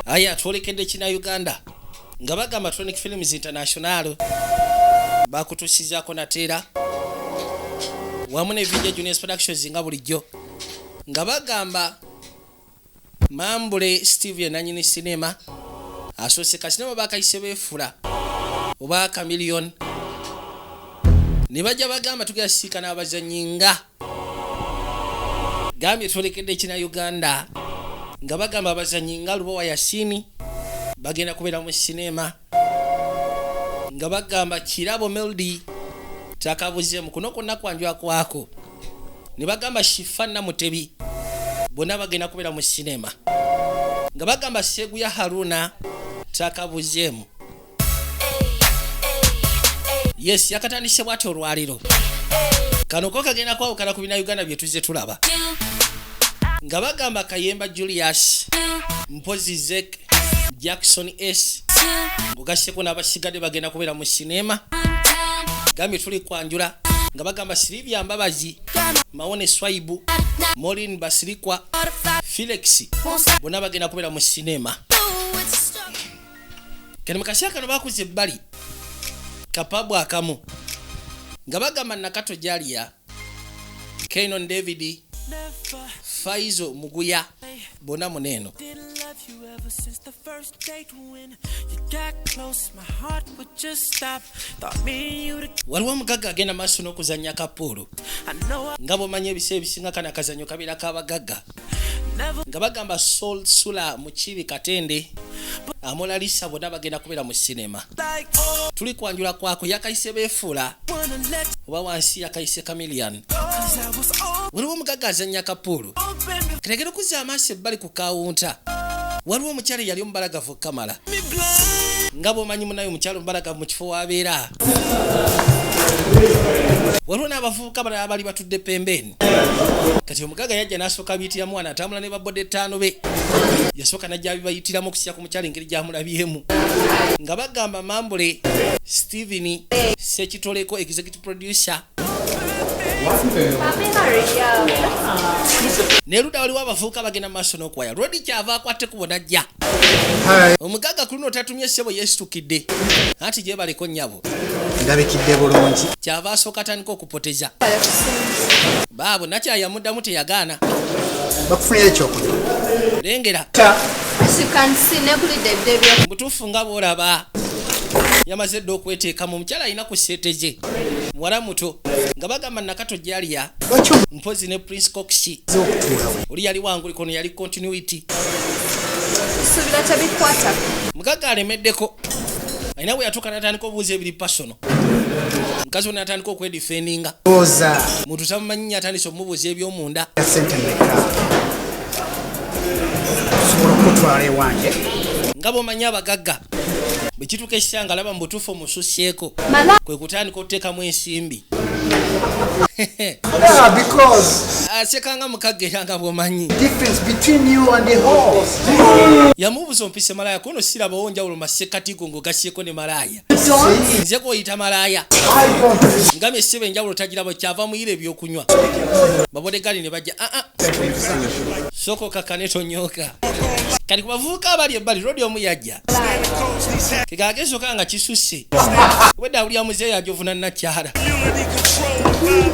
aya twolekedde kina uganda nga bagamba tronic films international bakutusizaako nateera wamu ne video juniors productions nga bulijjo nga bagamba mambule steve yenanyini sinema asoose kasinema bakayise beefula oba kamiliyoni ne bajja bagamba tugenda siika n'abazannyi nga gambye twolekede ekina uganda nga bagamba abazanyi nga lubowa yasini bagenda kubeera mu sinema nga bagamba kirabo meldi takabuzemu kuno kwonna kwanjwa kwako ne bagamba shifa namutebi bonna bagenda kubeera mu sinema nga bagamba seguya haruna takabuzemu yes yakatandise bwati olwaliro kano ko kagenda kwawukana ku bina uganda byetuze tulaba nga bagamba kayemba julius mpozi zek jackson s ngugaseko n'abasigadde bagenda kubeera mu sineema gambye tuli kwanjula nga bagamba silivia mbabazi mawone swaibu molin basirikwa felix bonna bagenda kubeera mu sineema kati mukasera kano bakuza ebbali kapabu akamu nga bagamba nakato jaliya kenon david faizo muguya bona muneeno waliwo omugagga agenda maaso n'okuzannya kapuulu nga bwomanyi ebiseera ebisinga kana kazanyo kabeera kabagagga nga bagamba sol sula mukibi katende amolalisa bona bagenda kubeera mu sinema tuli kwanjula kwako yakayise befuula oba wansi yakayise camilian waliwo omugaga azanya kapuulu kitegera okuza amaaso ebbali ku kawunta waliwo omukyala eyali omubalagavu kamala nga bwomanyi munaye omukyala omubalagavu mu kifo wabeera waliwo n'abavubuka balala bali batudde pembeeni kati omugaga yajja nasooka biyitira mwana atambula ne baboda ettaano be yasooka najja bibayitiramu okusiya ku mukyalo engeri gyamulabyemu nga bagamba mambule stephen sekitoleko executive producer neluda waliwo abavubuka bagenda mu maaso n'okuwaya lodi kyava akwatte kubo najja omugaga ku luno otatumye ssebo yesitukidde anti gyebaleko nnyabo ndabikidde bulungi kyava asooka atandika okupoteza baabwe nakyayamuddamu teyagaana bakufunira ekyokulya lengera mutuufu nga bwolaba yamaze dda okweteeka mu mukyala alina ku sente ze muwala muto nga bagamba nakato jaliya mpozi ne prince cox oli yali wangulikono yali continuity mugaga alemeddeko alina bwe yatuuka natandika obuuza ebiri pasono mukazi wona atandika okwedifendinga muntu tamumanyinya atandise okumubuuza ebyomunda nga bwomanyi abagagga bwekituuka ekisa nga laba mubutuufu omususyeko kwe kutandika okuteekamu ensimbi asekanga ah, mukagga era nga bwomanyi yamubuuza ompise malaaya kuno sirabawo njawulo masekatigo ngaogasyeko ne malaaya nze gwoyita malaaya ngambye esiba enjawulo tagirabo kyava muyira ebyokunywa babodegali ne bajja aa ah, ah. soko kakane tonyoka kati kubavubuka abali ebbali rodi omu yajja kegagesoka nga kisusse obwedda awulira muzeeyi ajovuna nakyala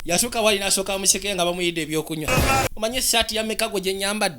yasooka wali nasooka museke nga bamuyidde ebyokunywa omanye esaati yameka gwe gyenyambadde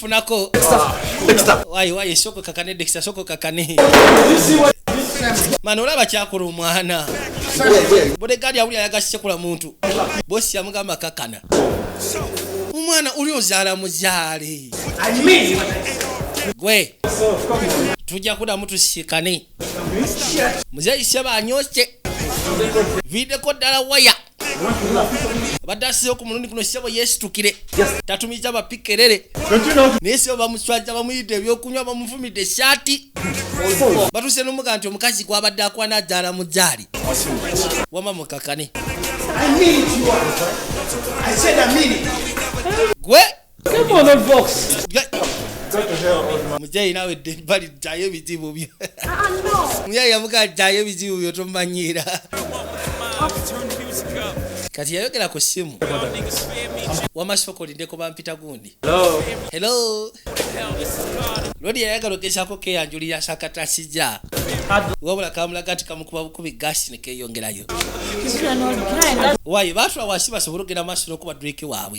funako wayi wayi soko kakane dexta soko kakane mani olaba kyakola omwana bodegaadi awuli ayagasikula muntu bosi yamugamba kakana omwana uli ozaala muzaale gwe tujja kudamu tusikane muzeyi seba anyose videko ddala waya obadde asizeyo ku mulundi guno ssebo yeesitukire tatumiza bapikerere naye ssebo bamuswaza bamuyidde ebyokunywa bamuvumidde esaati batuuse nomuga nti omukazi gwabadde akwana azaala mu jaali wama mukakane gwe Come on, old fox. Mujayi nawe dembali ddayo ebizibu byo. Mujayi yavuga ddayo ebizibu byo tomanyiira. Kati yayogera ku ssimu. Wama sifoko lindeko bampita gundi. Hello. Hello. Lodi yayagala ogezaako keyanjulira sakata sija. Wabula kamulaga nti kamukuba bukubi gasi ne keeyongerayo. Wayi baatula wansi basobole okugenda maaso n'okuba Drake waabwe.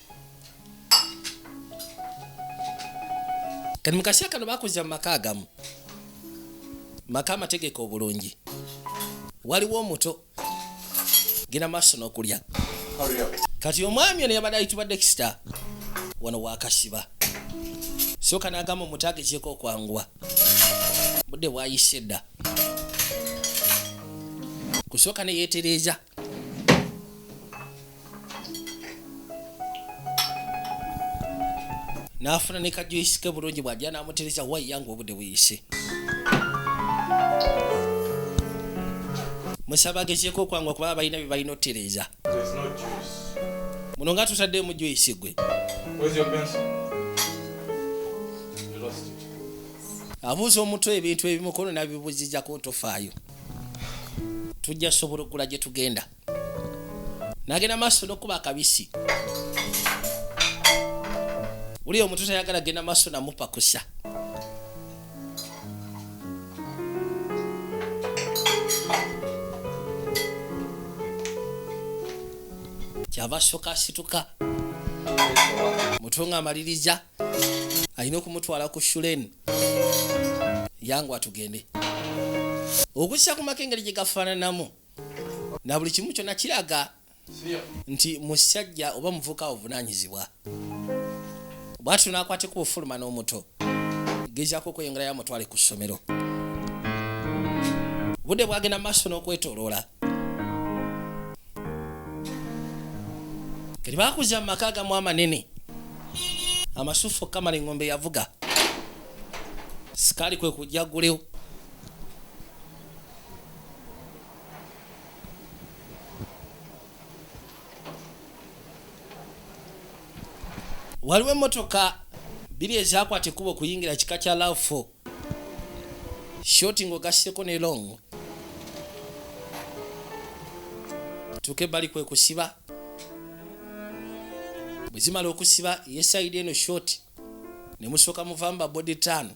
kati mu kaseera kano bakuza mu maka agamu maka amategeko obulungi waliwo omuto genda maaso n'okulya kati omwami ono yabadde ayitibwa dexta wano wakasiba soka nagamba omuto agezeeko okwanguwa budde bwayise edda kusooka neyetereeza n'afuna ne kajuisi ke bulungi bw'ajja n'amutereza wayiya ng'obudde buyise musaba agezeeko okwangwa kuba balina bye balina otereeza muno nga tutaddeemu juisi gwe abuuza omutwe ebintu ebimukono nabibuzizako ntofaayo tujja sobola okugula gye tugenda nagenda maaso nokuba akabisi uliyo omuntu tayagala genda maaso namupakusa kyava asooka asituka mutunga amaliriza alina okumutwala ku shulen yangu atugende okussa ku maka engeri gye gafaananamu na buli kimu kyona kiraga nti musajja oba muvuka ovunanyizibwa bwatyo nakwateko bufuluma n'omuto gezako okweyongerayo amutwale ku ssomero budde bwagenda maaso n'okwetoloola kati bakuza mu maka agamu amanene amasufu okamala engombe yavuga sikaali kwe kujja gulewo waliwo emmotoka biri ezakwata ekkubo okuyingira kika kya lafo shoti ng'ogasseko ne long tuuke bali kwe kusiba bwe zimala okusiba ye sayidi eno shoti ne musooka muvamba body tan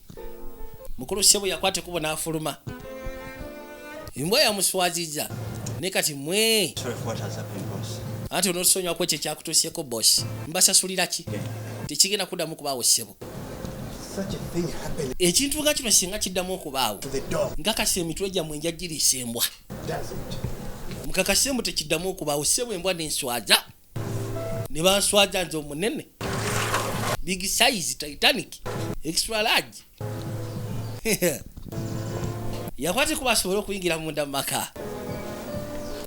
mukulu sebo yakwata ekubo n'afuluma embwa yamuswaziza ne kati mwe anti onosonywako ekyo ekyakutuuseeko bosi mbasasulira ki tekigenda kuddamu kubaawo sebo ekintu nga kino singa kiddamu okubaawo nkakasa emitwe gyammwe njagiriisa embwa mukakasa embwa tekiddamu okubaawo sebo embwa nenswaza ne banswaza nze omunene big size titanic extra large yakwate kuba asobole okuyingira munda mumaka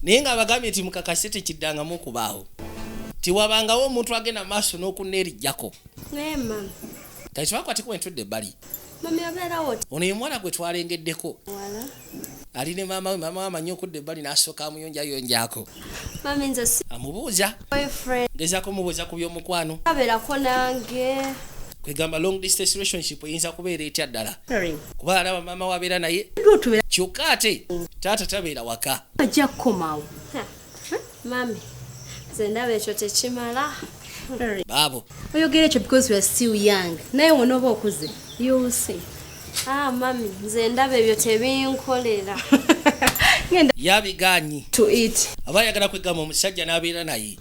naye nga abagambye nti mukakase tekiddangamu okubaawo tiwabangawo omuntu agenda maaso n'okuneerijjako kati twakwatekuba entudde ebbali ono ye mwana gwe twalengeddeko ali ne maama we maama we amanyi okudda ebbali n'asooka amuyonjayonjaako amubuuza gezako mubuuza ku by'omukwano abeerako nange kwegamba long distance relationship eyinza kubeera etya ddala kuba alaba maama wabeera naye kyokka ate taata tabeera waka ajja kukomawo Mami, nze ndaba ekyo tekimala. Baabo. Oyogera ekyo because you are still young. Naye wonooba okuze. You will see. Ah, mami, nze ndaba ebyo tebinkolera. Yabigaanyi. To eat. Aba ayagala kwegamba omusajja n'abeera naye.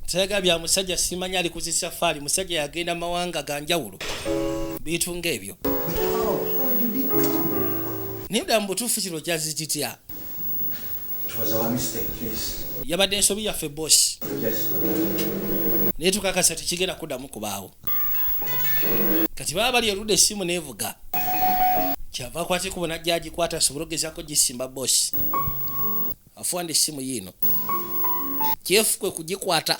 Sayaga bya musajja simanya ali ku safari musajja yagenda mawanga ga njawulo. Bintu ng'ebyo. Naye ddala mu butuufu kino kyazikitya. yabadde ensobi yaffe bosi naye tukakasa tekigenda kuddamu kubaawo kati baba bali erudde essimu nevuga kyava kwata ekubo najja agikwata asobole ogezako gisimba bosi afuwanda essimu yiino kyefu kwe kugikwata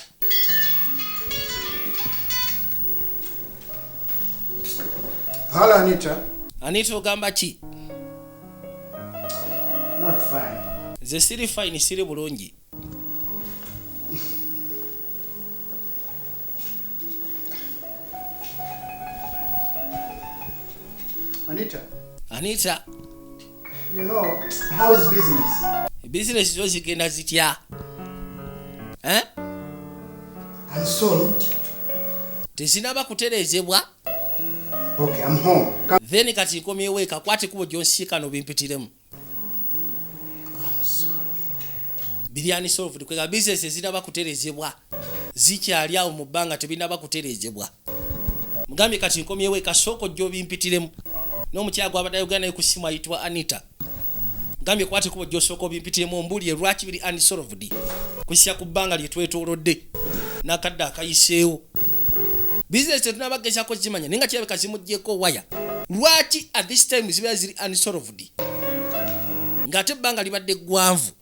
anita ogamba ki nze siri fine siri bulungi Anita. Anita. You know, how is business? Business is again as it ya. Eh? Unsolved. Tezinaba kuterezebwa. Okay, I'm home. Come. Then kati ikomyewo eka kwate kubo gyonsika no bimpitiremu. Biryani solved kwega business ezinaba kuterezebwa zikyali awo mu bbanga tebinaba kuterezebwa. Mugambye kati nkomyewo eka soko gyo bimpitiremu. N'omukyala gwabadde ayogera naye ku ssimu ayitibwa Anita. gambye kwata ekubo gyosooka obimpitiremu ombuulire lwaki biri unsolved kusisa ku bbanga lye twetoolodde n'akadde akayiseewo bizinesi tetunaba gezako zimanya naye nga kirabika zimugyeko waya lwaki at this time zibeera ziri unsolved ng'ate ebbanga libadde ggwanvu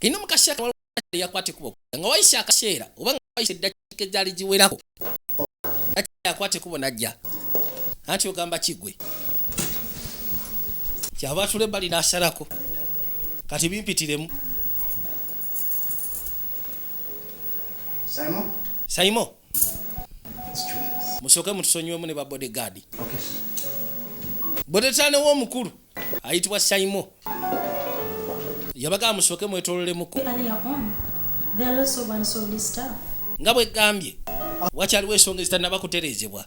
ino mukasya kawala yakwata ekubo nga wayise akaseera oba nga wayise eddakiika ezaali giwerako yakwata ekubo najja anti ogamba kigwe kyava atula ebbali nasalako kati bimpitiremu saimo musooke mutusonyiwemu ne babodegaadi bodetane w'omukulu ayitibwa saimo yabagamba musooke mwetololemuko nga bwegambye wakyaliwo ensonga ezitanaba kutereezebwa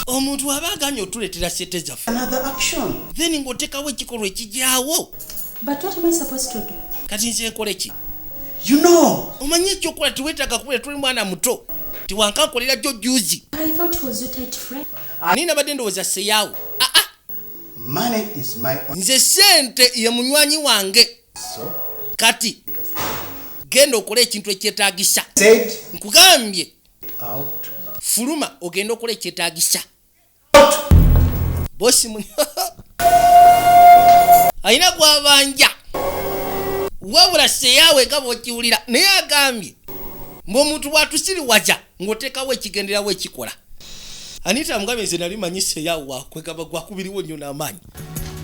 omuntu aba aganye otuleetera sente zaffe then ng'otekawo ekikolwa ekigyawo kati nze nkola eki omanyi ekyokola tiwetaaga kubera tuli mwana muto tiwankankolera jjo juzi ani nabadde ndowooza seyaawo ah, ah. nze sente ye munywanyi wange kati genda okola ekintu ekyetagisa nkugambye fuluma ogenda okola ekyetagisa bosi muni alina gwabanja wabula seyaawe nga bwokiwulira naye agambye mbu omuntu bwatusiriwaza ng'oteekawo ekigenderawo ekikola anita mugambe nze nali manyi seya wakwegamba gwakubiriwo nnyo n'amaanyi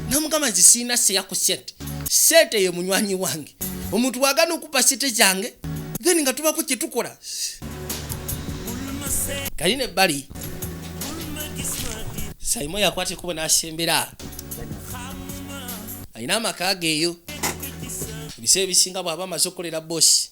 namugamba nze sirina seya ku sente sente ye munywanyi wange omuntu wagana okupa sente zange then nga tubako kyetukola kali ne bali saimo yakwata ekubo n'asembera alina amaka geeyo ebiseera ebisinga bw'aba amaze okukolera bosi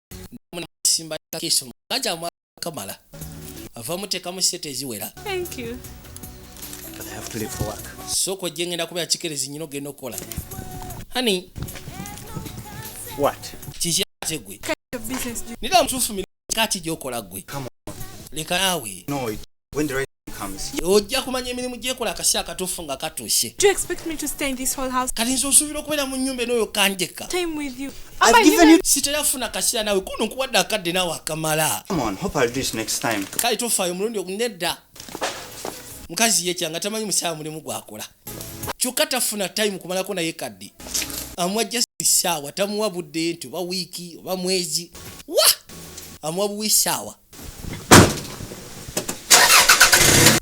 simba kiso kaja mwa kamala avamu tekamu sete eziwera thank you but i have to leave for work so ko jengenda kuba chikerezi nyino geno kola honey what kizya tegwe nida mtufu mi kati jokola gwe leka nawe no it ojja kumanya emirimu gyekola akasi akatuufu nga katuuse kati nze osuubira okubeera mu nyumba enoyo kanjeka sitera funa kaseera nawe kuno nkuwadde akadde nawe akamala kale tofaayo omulundi ogunedda mukazi yekya nga tamanyi musaala mulimu gwakola kyokka tafuna time kumalako naye kadde amuwa just saawa tamuwa budde nti oba wiiki oba mwezi wa amuwa buwi saawa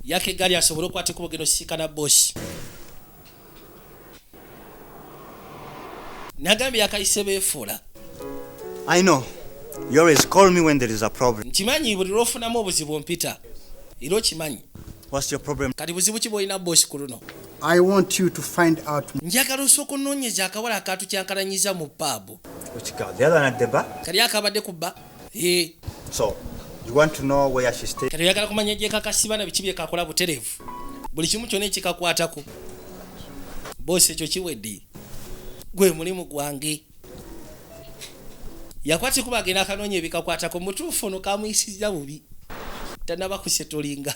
yaka eggaali asobole okukwata ekubo genda osisinkana bosi nagambye yakayise beefuula i know you always call me when there is a problem nkimanyi buli lwofunamu obuzibu mpita era okimanyi what's your problem kati buzibu ki bwolina bosi ku luno i want you to find out njagala osooka onoonyeza akawala akatukyankalanyiza mu paabu kali akabadde ku bba kati oyagala kumanya gyekakasiba na biki byekakola buterevu buli kimu kyona ekikakwatako bosi ekyo kiwedde gwe mulimu gwange yakwatikuba agenda akanoonya ebikakwatako mutuufu ono kamuyisiza bubi tanaba kusetolinga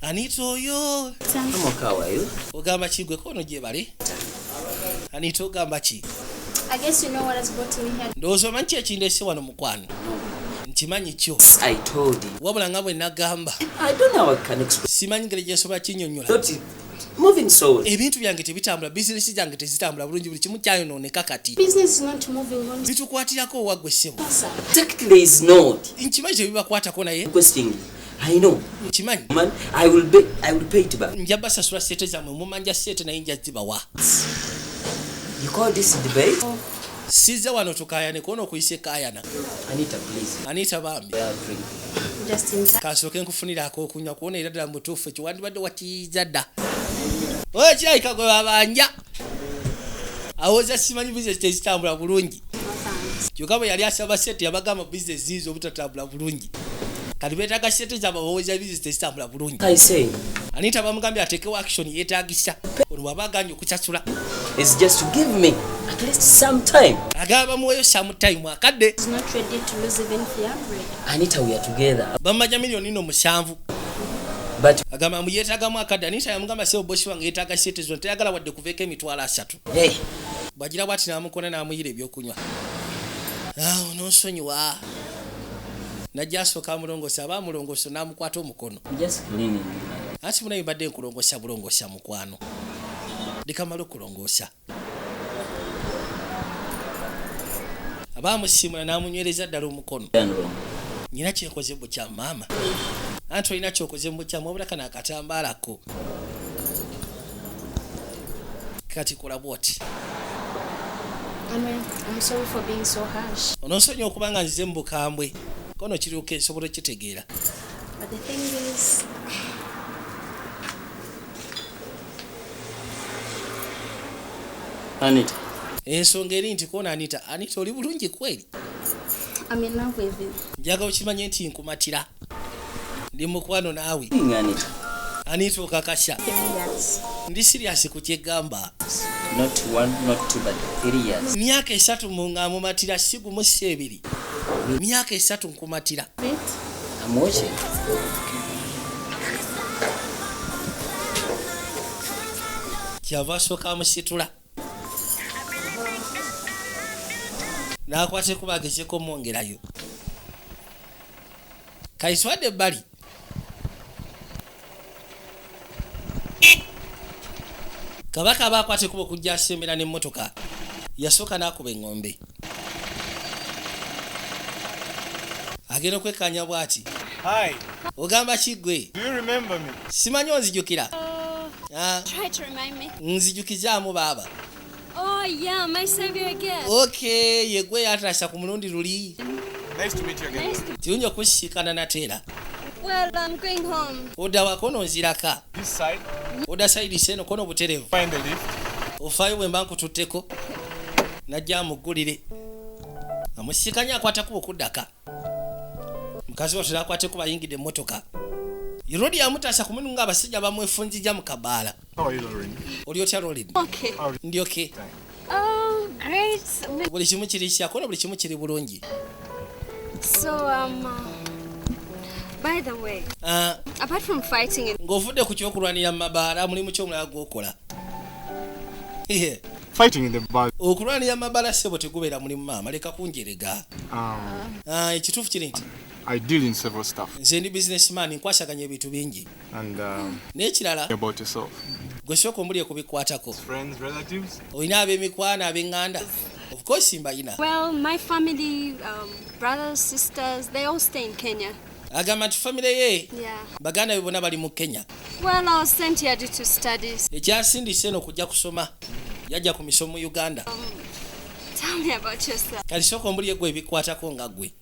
anita oyo ogamba ki gwe kono gyebale anita ogamba ki ndowooza omanyi ki ekindese wano mukwano nkimanyi kyo wabula nga bwe nagamba simanyi ngeri gyensobola kinyonyola moving soul ebintu byange tebitambula bizinesi zange tezitambula bulungi buli kimu kyayonooneka kati bitukwatirako owagwe ssebo nkimanyi tebibakwatako naye I know. Kimanyi. Man, I will be, I will pay it back. Njaba sasura sete za mwe mumanja sete na inja ziba wa. You call this debate? Oh. Siza wano tukaya ne kono kuise kaya na. Anita please. Anita bambi. Yeah, Just in time. Kaso ken kufunira ako kunya kuona irada mbutufu. Chiwandi bado watiza da. Oye chai kagwe babanja. awoza simanyi bizinesi tezitambula bulungi kyokka bwe yali asaba sente yabagamba bizinesi ziiza obutatambula bulungi kati beetaga sente zabawoza bizinesi tezitambula bulungi anita bamugambye atekewo action yetagisa ono bwaba aganye okusasula agaba bamuweyo sometime akadde bammaja miliyoni no musanvu agamba mbu yeetagamu akadda naye yamugamba sebo bosi wange yeetaaga sente zino teyagala wadde kuveeko emitwalo asatu bwagira bwati n'amukona n'amuyira ebyokunywa awo n'onsonyiwa najja asooka amulongosa aba amulongoso n'amukwata omukono anti munaye mbadde nkulongosa bulongosa mukwano ndikamala okulongosa aba amusiimula n'amunywereza ddala omukono nyina kyekoze bukyamu maama anti olina kyokoze mubukyamu wabula kano akatambaalako kati kola bwoti ononsonyi okuba nga nzize mu bukambwe kono kiruka esobola okitegeera Anita. Ensonga eri nti kona Anita, Anita oli bulungi kweli? I'm in love with you. Njaga okimanye nti nkumatira. Ndi mukwano naawe. Anita. Anita okakasha. Yes. Ndi serious ku kyegamba. Not one, not two, but three years. Myaka esatu munga mumatira sigu musi ebiri. Myaka esatu nkumatira. Wait. I'm watching. kyava asooka amusitula n'akwata kuba agezeko omwongerayo kaiswadde ebbali kabaka aba akwata ekuba okujja asembera n'emmotoka yasooka n'akuba eŋŋombe agenda okwekkaanya bw'ati ogamba ki ggwe simanyi onzijukira uh, ah. nzijukizaamu baaba Oh yeah, my savior again. Okay, yegwe yatasha ku mulundi luli. Nice to meet you again. Nice to... Tiunyo kushikana na tera. Well, I'm going home. Oda wako no nziraka. This side. Oda side seno kono buterevu. Find the lift. Ufayo we mbanku tuteko. Najia mugulire. Amushikanya kwa takubu kudaka. mukazi watera akwate kuba ayingidde emmotoka irodi yamutaasa ku munu ng'abasajja bamwefunjija mu kabaala oli otya rolin ndi oke oh, buli kimu kiri kyakona buli kimu kiri bulungi um, ah. ng'ovudde ku kyokulwanira mu mabaala mulimu kyomulala gwokola okulwanira mabala sebo tegubeera mulimu maama leka kunjerega ah. ah, ekituufu kiri nti I deal in several stuff. Nze ndi businessman nkwasaganya ebintu bingi. And um, n'ekirala about yourself. Gwe sooka omuli okubikwatako. Friends, relatives. Olina ab'emikwano ab'eŋŋanda. Of course mbayina. Well, my family, um, brothers, sisters, they all stay in Kenya. agamba nti famire ye yeah. baganda be bona bali mu kenya ekyasindise eno kujja kusoma yajja ku misomo mu uganda um, kati sooka ombuli egwe ebikwatako nga gwe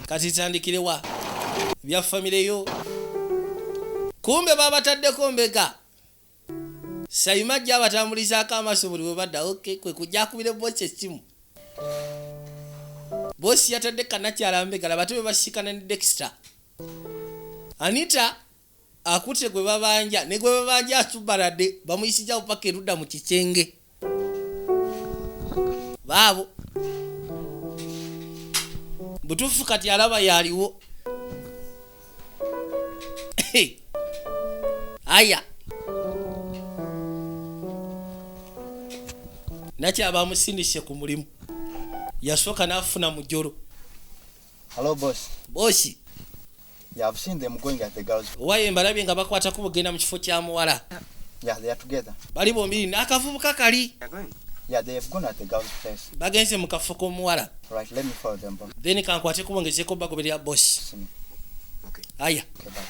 kati tandikirewa bya famire yo kumbe babataddeko mbega Sayima ajja abatambulizaako amaaso buli we badda okay kwe kujja akubire boosi essimu. Boosi yatadde kanakyala mbega laba ate bwe basisikana ne Dexter. Anita akutte gwe babanja ne gwe babanja asubbalade bamuyisizza bupaka erudda mu kisenge. baabo butuufu kati alaba yaliwo aya nakyabamusindise ku mulimu yasooka n'afuna mujolo Hello boss. Boss. Yeah, I've seen them going at the girls. Owaye mbalabye nga bakwata ku bugenda mu kifo kya muwala. Yeah, they are together. Bali bombi n'akavubuka kali. Yeah, they have gone at the girls place. Bagenze mu kafo k'omuwala. Right, let me follow them boss. Then kankwate kubongezeko bagoberera boss. Okay. Aya. Okay, bye.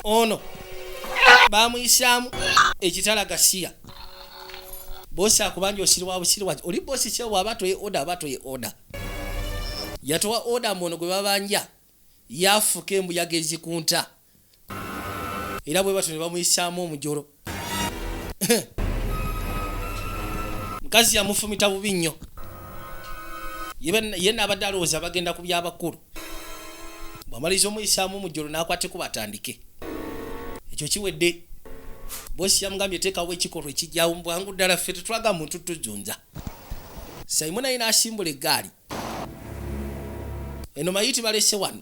ono bamuyisaamu ekitala gasiya bosi akubanja osiri wa busiri waki oli bosi kyewa aba toye oda aba toye oda yatowa oda mbu ono gwe babanja yafuka embuyaga ezikunta era bwe batyo ne bamuyisaamu omujolo mukazi yamufumita bubi nnyo ye naabadde alowooza bagenda ku byabakulu bwamaliriza omuyisaamu mujolo n'akwateko batandike ekyo kiwedde bosi yamugambye teekawo ekikolwa ekijyawo mubwangu ddala ffe tetwaga muntu tujunza simon ayi n'asimbula eggaali eno mayiti balese wano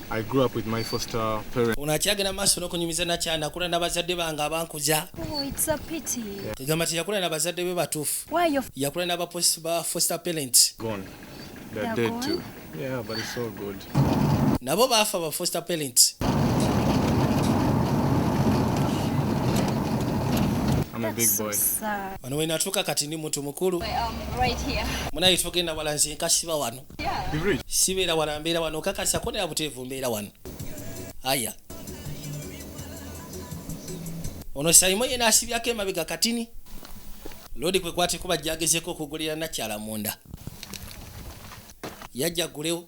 I grew up with my foster parents. Ono akyagenda maaso n'okunyumiza nakya nakula na bazadde bange abankuza. Oh, it's a pity. Kigamba nti yakula na bazadde be batuufu. Why your yakula na ba foster parents. Gone. They're, They're dead gone? too. Yeah, but it's so good. Nabo baafa ba foster parents. I'm a big boy. Wano wenatuuka kati ndi muntu mukulu. Um, right here. Munaye tugenda wala nze nkasiba wano. sibeera wala mbeera wano okakasa ko naye abuteevu mbeera wano aya ono sayimo yena asibyako emabega katini lodi kwe kwateko bajjagezeko okugulira nakyala munda yajja gulewo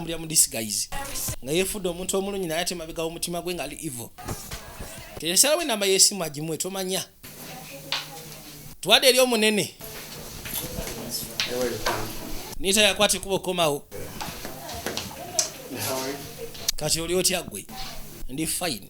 atambulira mu disguise nga yefudde omuntu omulungi naye ate mabega omutima gwe ngaali evil teresalawo enamba yesimu agimuwe tomanya twade eri omunene nita yakwata ekuba okukomawo kati oli otya gwe ndi fine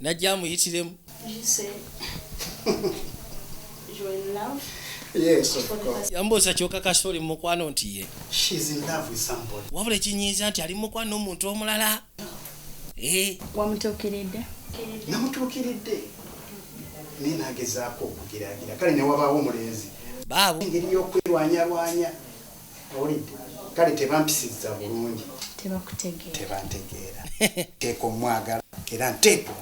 najja amuyitiremu yambuuza kyoka kasita oli mumukwano nti ye wabula ekinyiiza nti ali mukwano omuntu omulala eh. wamutuukiridde namutuukiridde naye nagezaako okugeragira kale newabaawo omulenzi baabo engeri y'okwerwanyarwanya owulidde kale tebampisiza bulungi tebakutegeera tebantegeera teeka omwagala era nteekwa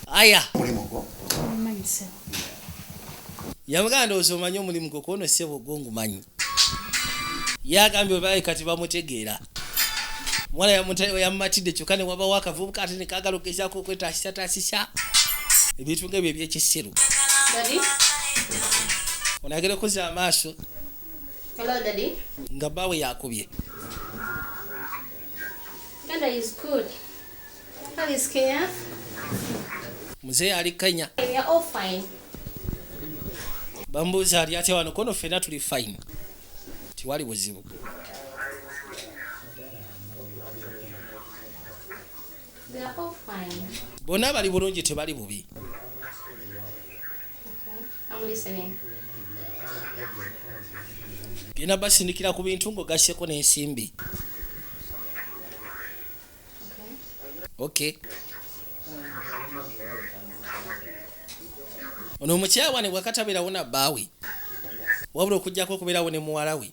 aya omulimu gwo yamugamba ndowooza omanyi omulimu gwo kuono ssebo gwo ngumanyi yagambye obaye kati bamutegeera mwana yamumatidde kyokka ne wabawo akavubuka ate nekagala okugezaako okwetaasisatasisa ebintu nga ebyo ebyekisiru onagera okuza amaaso Hello, Daddy. Nga bawe yakubye. Dada is good. How is Kenya? Mzee ali Kenya. We are all fine. Bambuza ali ate wano kono fena tuli fine. Tiwali buzibu. They are all fine. Bona bali bulungi tebali bubi. genda basindikira ku bintu ng'ogasseko n'ensimbi okay ono omukyala wane bwakataberawo na bbaawe wabula okujjako okubeerawo ne muwala we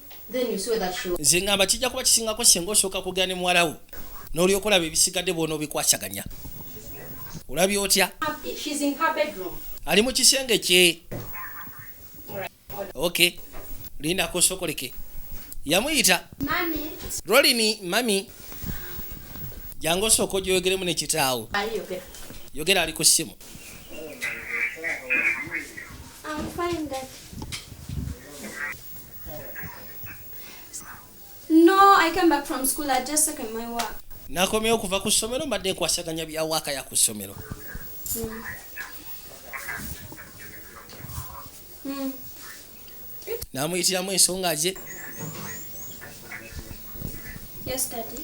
nze ngamba kijja kuba kisingako senga osooka kugera ne muwalawo n'olyoka olaba ebisigadde bwona obikwasaganya olabye otya ali mu kisenge kye ok lindako osokoleke yamuyita rolini mami jangu osooka ogyoyogeremu nekitaawo yogera ali ku ssimu I'm fine, Dad. No, I came back from school. I just second my work. Nakomye okuva ku ssomero mbadde nkwasaganya bya waaka ya ku ssomero. Mm. Mm. Namuyitiramu ensonga ze. Yes, daddy.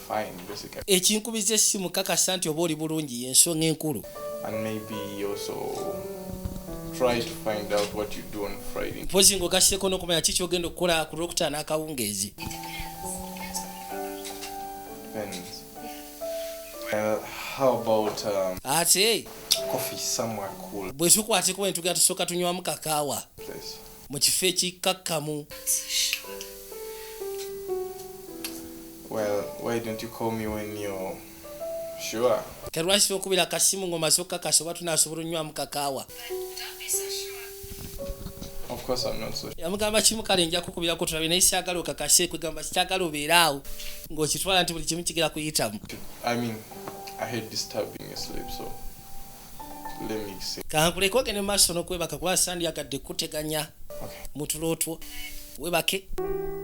ekinkubiza essimu kakasa nti oba oli bulungi yensonga enkulu mpozi ngaogasseeko n'okumanya ki kyogenda okukola ku lwokutaano akawungeezi um, ate bwetukwatekuba netugenda tusooka tunywamu kakaawa mu kifo ekikkakkamu. Ke lwaki tokubira akasimu ng'omaze okukakasa oba tunaasobola onywamu kakaawa? yamugamba kimu kale nja kukubirako tulabe naye syagala okakase kwegamba sikyagala obeere awo ng'okitwala nti buli kimu kigera kuyitamu kankuleke ogende mu maaso n'okwebaka kuba sandyagadde kuteganya mu tulootwo webake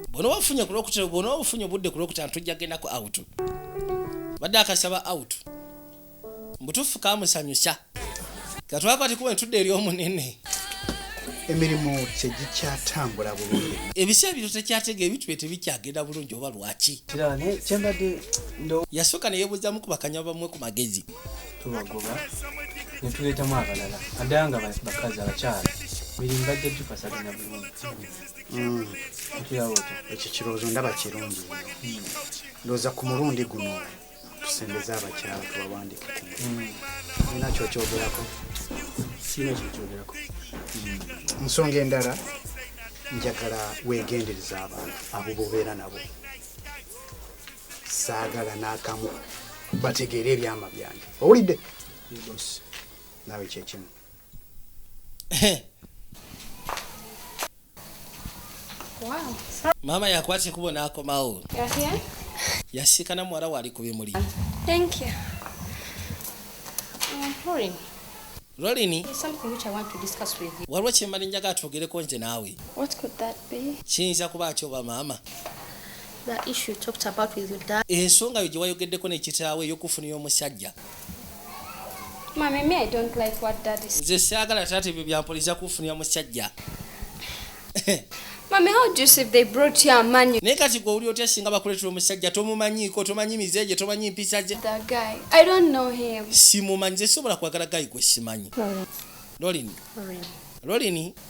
bwona wafunye kulwokutera bwona wafunye obudde kulwokutera ntujja gendako out badde akasaba out mbutufu kamusanyusa katwakwati kuba entudde eri omunene emirimu kyegikyatambula bulungi ebiseera bino tekyatega ebintu bye tebikyagenda bulungi oba lwaki yasooka neyebuuzamu kubakanya bamwe ku magezi tubagoba ne tuleetamu abalala naddala nga bakazi abakyala mirimu bajja gifasaganya bulungi hmm. ekyo kirowoozo ndaba kirungi hmm. ndowooza ku mulundi guno tusembeze abakyala tubawandike olina hmm. kyokyogerako siina kyokyogerako nsonga endala njagala wegendereza abantu abo bobeera nabo saagala n'akamu bategeere ebyama byange owulidde naawe kyekimu maama yakwata ekubo n'akomawo yasiikana muwala waali ku bimuli rolini waliwo kyemali njaga atwogereko nze naawe kiyinza kuba ki oba maama Ensonga yo gye wayogeddeko ne kitaawo ey'okufunira omusajja. Nze saagala taata ebyo bya mpoliza kufunira musajja. Naye kati gwe owulira otya singa bakuleetera omusajja tomumanyiiko, tomanyi mize gye, tomanyi mpisa gye? Simumanyi, nze sisobola kwagala gayi gwe simanyi. Lolini. Lolini.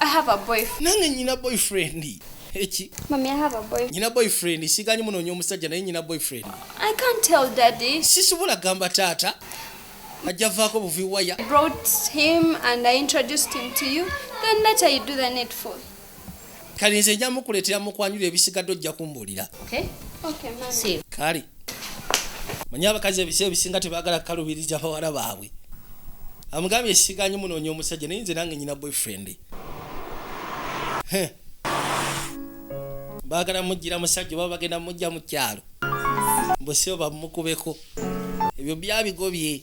I have a boyfriend. Nange nyina boyfriend. Eki. Mommy, I have a boyfriend. Nyina boyfriend. Siganyi muno nyo musajja naye nyina boyfriend. I can't tell daddy. Sisubula gamba tata. Ajavako buvi waya. I brought him and I introduced him to you. Then later you do the needful. Kali nze njamukuletera mukwanyule ebisigadde ojja kumbulira. Okay. Okay, mommy. See. Kali. manyi abakazi ebisa ebisinga tebagala kukalubiriza bawala baabwe amugambye siganye munoonya omusajja naye nze nange nyina boyfriend bagala mujjira musajja oba bagenda mujja mu kyalo mbusibo bamukubeko ebyo byabigobye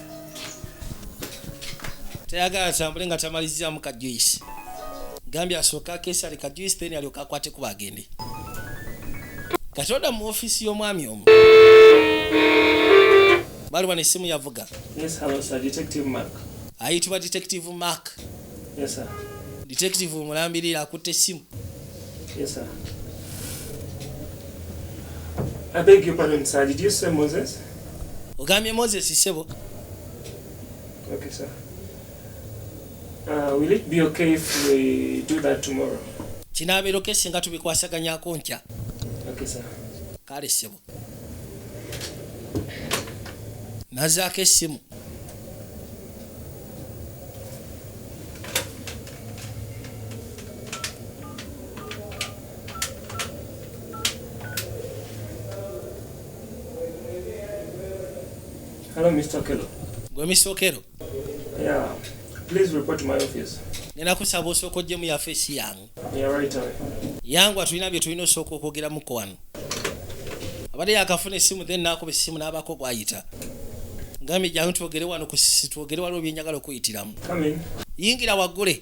tayagala tambule nga tamaliziramu ka juice gambye asooka kesale ka juice then alyoka akwate kuba agende kati oda mu ofisi y'omwami omu baliwa nesimu yavuga ayitibwa detective mark detective omulambirira akutte essimu Yes, sir. I beg your pardon, sir. Did you say Moses? ogambye moses sebo okay, sir. Uh, will it be okay if we do that tomorrow? kinaabeeroke singa tubikwasaganyako nkya okay, sir. kale sebo nazaako essimu Hello, Mr. Okello. Gwe Mr. Okello? Yeah. Please report to my office. Nena kusaba osooka ojje mu yafeesi yange. Yeah, right away. Yangu atulina bye tulina osooka okwogeramuko wano. Abadde yakafuna essimu then n'akuba essimu n'abaako gw'ayita. Ngambye jangu twogere wano ku sisi twogere waliwo bye njagala okuyitiramu. Yingira waggule.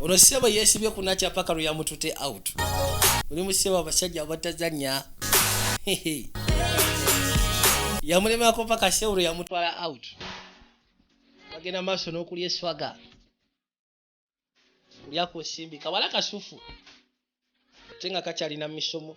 ono sebo yesibye kunakya paka lweyamutute out oli musebo abasajja abatazanya yamulemako paka sebo lweyamutwala out bagenda maaso n'okulya eswaga kulya ku nsimbi kawala kasufu ate nga kakyalina misomo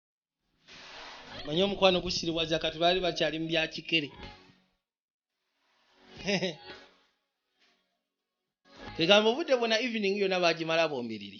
manye omukwano gusiriwaza kati baali bakyali mu byakikere egamba obudde bwona evening yona bagimala bombiriri